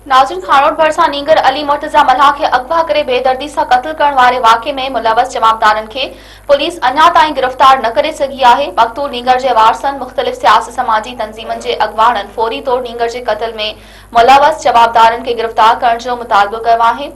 ناظرين هاڻوت ڀرسان نينگر علي مرتضيٰ ملاح کي اغوا ڪري بي دردي سان قتل ڪرڻ واري واقعي ۾ ملوث جوابدارن کي پوليس اڃا تائين گرفتار نه ڪري سگهي آهي مقتول نينگر جي وارثن مختلف سياسي سماجي تنظيمن جي اڳواڻن فوري طور نينگر جي قتل ۾ ملوث جوابدارن کي گرفتار ڪرڻ جو مطالبو ڪيو آهي.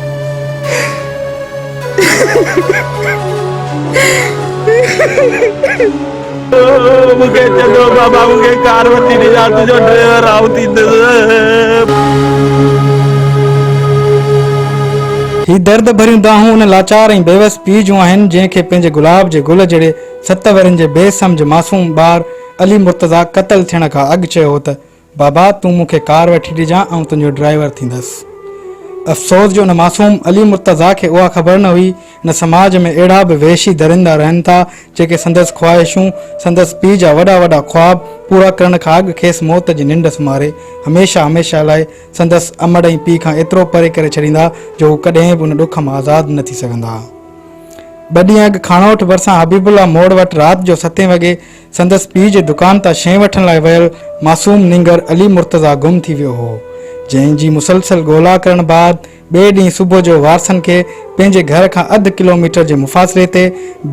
هي درد ڀريون دانهون ان لاچار ۽ بيوس پيء جون آهن، جنهن کي پنهنجي گلاب جي گل جهڙي ست ورهين جي بي سمجهه معصوم ٻار علي مرتضيٰ قتل ٿيڻ کان اڳ چيو هو ته بابا تون مون کي ڪار وٺي ڏجان آئون تنهنجو ڊرائيور ٿيندس. افسوس جو ان معصوم علي مرتضيٰ کي اها خبر نه هئي نه سماج ۾ اهڙا به وحشي درندا رهن ٿا جيڪي سندس خواهشون، سندس پيء جا وڏا وڏا خواب پورا ڪرڻ کان اڳ کيس موت جي ننڊ سمهاري هميشه هميشه لاء سندس امڙ ۽ پيء کان ايترو پري ڪري ڇڏيندا جو هو ڪڏهن به ان ڏک مان آزاد نه ٿي سگهندا. ٻه ڏينهن اڳ کاڻوٺ ڀرسان حبيب الله موڙ وٽ رات جو ستين وڳي سندس پيء جي دڪان تان شين وٺڻ لاء ويل معصوم نينگر علي مرتضيٰ گم ٿي ويو هو، جنهن جي مسلسل ڳولا ڪرڻ بعد ٻئي ڏينهن صبح جو وارثن کي پنهنجي گهر کان اڌ ڪلوميٽر جي مفاصلي تي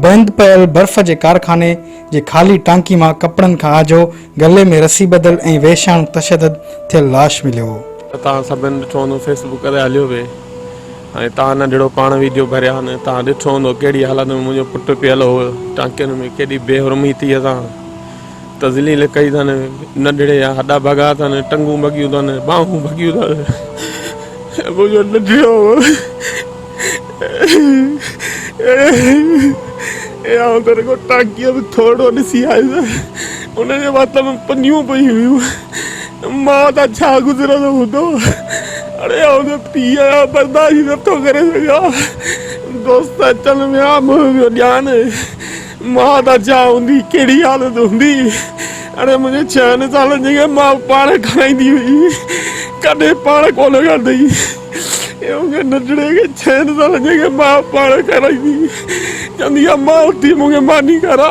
بند پيل برف جي ڪارخاني جي خالي ٽانڪي مان ڪپڙن کان آجو گلي ۾ رسي ٻڌل ۽ وحشياڻو تشدد ٿيل لاش مليو. توهان سڀن ڏٺو هوندو فيس بڪ تي هليو پئي. ۽ توهان ننڍڙو پاڻ ويڊيو ڀريا نه توهان ڏٺو هوندو ڪهڙي حالت ۾ منهنجو پٽ پيل هو ٽانڪين ۾ ڪيڏي بي حرميتيء سان تذليل ڪئي اٿن ننڍڙي جا هڏا ڀڳا اٿن ٽنگون ڀڳيون اٿن ٻانهون ڀڳيون اٿن منهنجو ننڍڙو اي آئون ته رڳو ٽانڪيء ۾ ٿورڙو ڏسي آيس ان جي وات ۾ پنيون پئي هيون مان تان ڇا گذرندو هوندو؟ اڙي آئون ته پيء جا برداشت ئي نٿو ڪري سگهان. دوست اچن ويا، منهن پيو ڏيان. مان تان ڇا هوندي، ڪهڙي حالت هوندي؟ اڙي منهنجي ڇهن سالن جي کي ماء پاڻ کارائيندي هئي، ڪڏهن پاڻ ڪونه کارڌئي. ايئن ڪنهن ننڍڙي کي ڇهن سالن جي کي ماء پاڻ کارائيندي، چوندي ها ماء اٿي مون کي ماني کارا.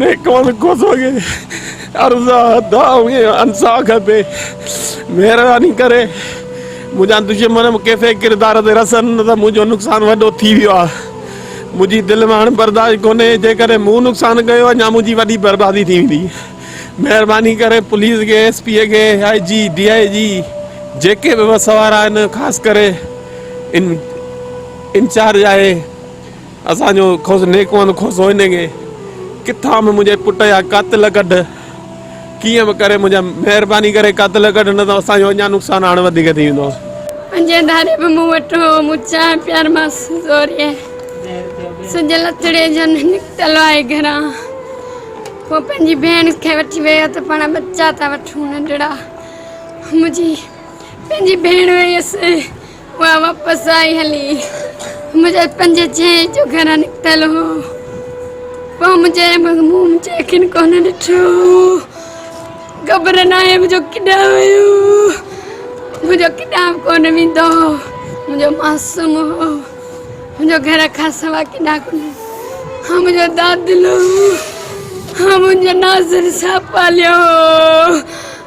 نيڪوال ڪوسو کي عرض آ دعا ۽ انصاع کپي مهرباني ڪري منهنجا دشمن به ڪيسي ڪردار تي رسن نه ته منهنجو نقصان وڏو ٿي ويو آ منهنجي دل ۾ هاڻ برداشت ڪونهي جيڪڏهن مون نقصان ڪيو اڃا منهنجي وڏي بربادي ٿي ويندي مهرباني ڪري پوليس کي ايس پي کي آء جي ڊي آء جي جيڪي به وس وارا آهن خاص ڪري ان انچارج آهي اسان جو کوس نيڪوند کوسو هن کي ڪٿان به منهنجي پٽ جا قاتل ڪڍ ڪيئن به ڪري منهنجا مهرباني ڪري قاتل ڪڍ نه ته اسان جو اڃا نقصان هاڻ وڌيڪ ٿي ويندو. پنجين ڌاري به مون وٽ هو مون چانهه پيارمانس زوريء سج لٿڙي جن نڪتل آهي گهران هو پنهنجي ڀيڻ کي وٺي ويو ته پاڻ ٻچا ٿا وٺون ننڍڙا منهنجي پنهنجي ڀيڻ ويس مان واپس آئي هلي منهنجا پنج چهي جو گهران نڪتل هو پوء منهنجي مغموم جي اکين ڪونه ڏٺو خبر نه آهي منهنجو ڪيڏا ويو منهنجو ڪيڏا ڪونه ويندو منهنجو معصوم هو منهنجو گهر کان سوا ڪيڏا ڪونه ها منهنجو دادلو ها منهنجو ناظر صاحب پاليو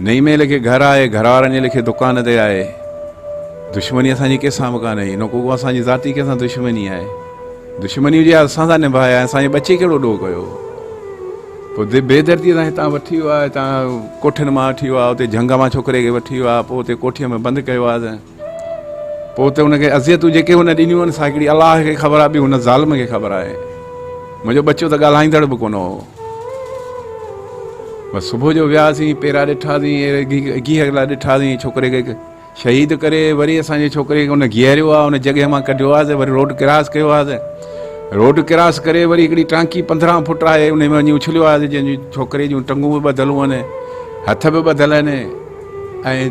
نئين ميل کي گهر آهي، گهر وارن جي ليکي دڪان تي آهي. دشمني اسان جي ڪنهن سان به ڪانهي، هن ڪوڪو اسان جي ذاتي ڪنهن سان دشمني آهي. دشمني هجي ها اسان سان نڀائي ها، اسان جي ٻچي ڪهڙو ڏوهه ڪيو هو. پوء بي درديء سان هتان وٺي ويو ها، هتان ڪوٺين مان وٺي ويو ها، اتي جهنگ مان ڇوڪري کي وٺي ويو ها، پوء اتي ڪوٺيء ۾ بند ڪيو ها ته. پوء ته ان کي اذيتون جيڪي هن ڏنيون آهن سا هڪڙي الله کي خبر آهي ٻيو هن ظالم کي خبر آهي. منهنجو ٻچو ته ڳالهائيندڙ به ڪونه هو. بس صبح جو وياسين پيرا ڏٺاسين گيهه لا ڏٺاسين ڇوڪري کي شهيد ڪري وري اسان جي ڇوڪري کي ان گيهريو آهي ان جڳهه مان ڪڍيو آهي وري روڊ ڪراس ڪيو آهي روڊ ڪراس ڪري وري هڪڙي ٽانڪي پندرهن فٽ آهي ان ۾ وڃي اڇليو آهي جن جي ڇوڪري جون ٽنگون به ٻڌل هون هٿ به ٻڌل آهن ۽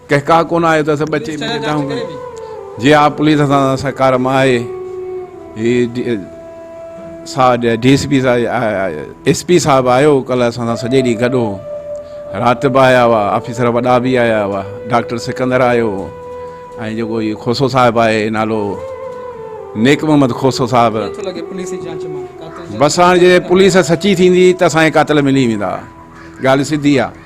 ڪهڪاء ڪونه آيو ته اسان ٻچي ملي ڏاهون ۾ جي ها پوليس اسان سان سهڪار مان آهي هي ساهه ڏي ڊي سي پي صاحب ايس پي صاحب آيو ڪل اسان سان سڄي ڏينهن گڏ هو رات به آيا هئا آفيسر وڏا به آيا هئا ڊاڪٽر سڪندر آيو هو ۽ جيڪو هي کوسو صاحب آهي نالو نيڪ محمد کوسو صاحب بس هاڻ جي پوليس سچي ٿيندي ته اسان کي قاتل ملي ويندا ڳالهه سڌي آهي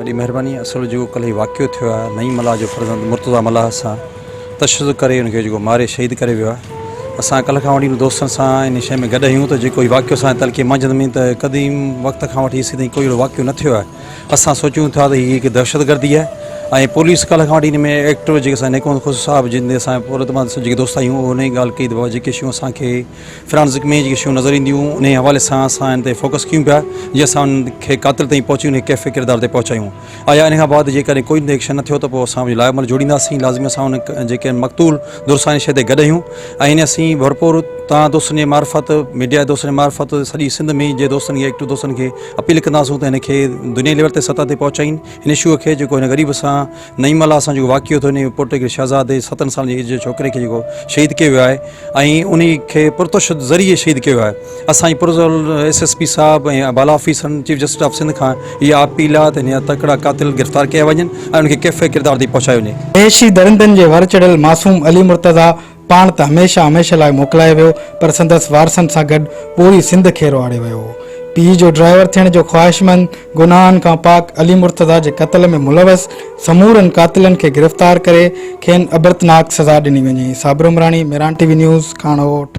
وڏي مهرباني اصل جيڪو ڪلهه هي واقعو ٿيو آهي نعيم ملاح جو فرزند مرتضيٰ ملاح سان تشدد ڪري ان کي جيڪو ماري شهيد ڪري ويو آهي اسان ڪلهه کان وٺي ان دوستن سان ان شيء ۾ گڏ آهيون ته جيڪو هي واقعو اسان جي تلخي مانجهند ۾ ته قديم وقت کان وٺي هيسين تائين ڪوئي اهڙو واقعو نه ٿيو آهي اسان سوچيون ٿا ته هي هڪ دهشتگردي آهي ۽ پوليس ڪالهه کان وٺي ان ۾ ايڪٽر جيڪي اسان نيڪوند خسرو صاحب جن تي اسان پورو اعتماد سان جيڪي دوست آهيون اهو ان جي ڳالهه ڪئي ته بابا جيڪي شيون اسان کي فرانزڪ ۾ جيڪي شيون نظر اينديون انهي حوالي سان اسان ان تي فوڪس ڪيون پيا جي اسان ان کي قاتل تائين پهچي ان کي ڪيف ڪردار تي پهچايون آيا ان کان بعد جيڪڏهن ڪوئي به ايڪشن نه ٿيو ته پوء اسان پنهنجو لاء عمل جوڙينداسين لازمي اسان ان جيڪي مقتول درساني شهيد گڏ آهيون ۽ اسين ڀرپور توهان دوستن جي معرفت ميڊيا جي دوستن جي معرفت سڄي سنڌ ۾ جي دوستن کي ايڪٽر دوستن کي اپيل ڪنداسون ته هن کي دنيائي ليول تي سطح تي پهچائين هن شو کي جيڪو هن غريب سان نعيم الله سان جيڪو واقعو ٿيو هن پورٽيگل شهزادي ستن سالن جي ايج جي ڇوڪري کي جيڪو شهيد ڪيو ويو آهي ۽ انهي کي پرتشد ذريعي شهيد ڪيو ويو آهي اسان جي پرزول ايس ايس پي صاحب ۽ بالا آفيسرن چيف جسٽس آف سنڌ کان اها اپيل آهي ته هن جا تڪڙا قاتل گرفتار ڪيا وڃن ۽ انهن کي ڪيفي ڪردار تي پهچايو وڃي. عيشي درندن جي ور چڙهيل معصوم علي مرتضيٰ پاڻ ته هميشه هميشه لاء موڪلايو ويو پر سندس وارثن سان گڏ پوري سنڌ کيرو آڙي ويو هو. پيء جو ڊرائيور ٿيڻ جو خواهشمند، گناهن کان پاڪ علي مرتضيٰ جي قتل ۾ ملوث سمورن قاتلن کي گرفتار ڪري کين عبرتناڪ سزا ڏني وڃي، Sabir Umrani, Miran T V news, ڪاڻوٽ.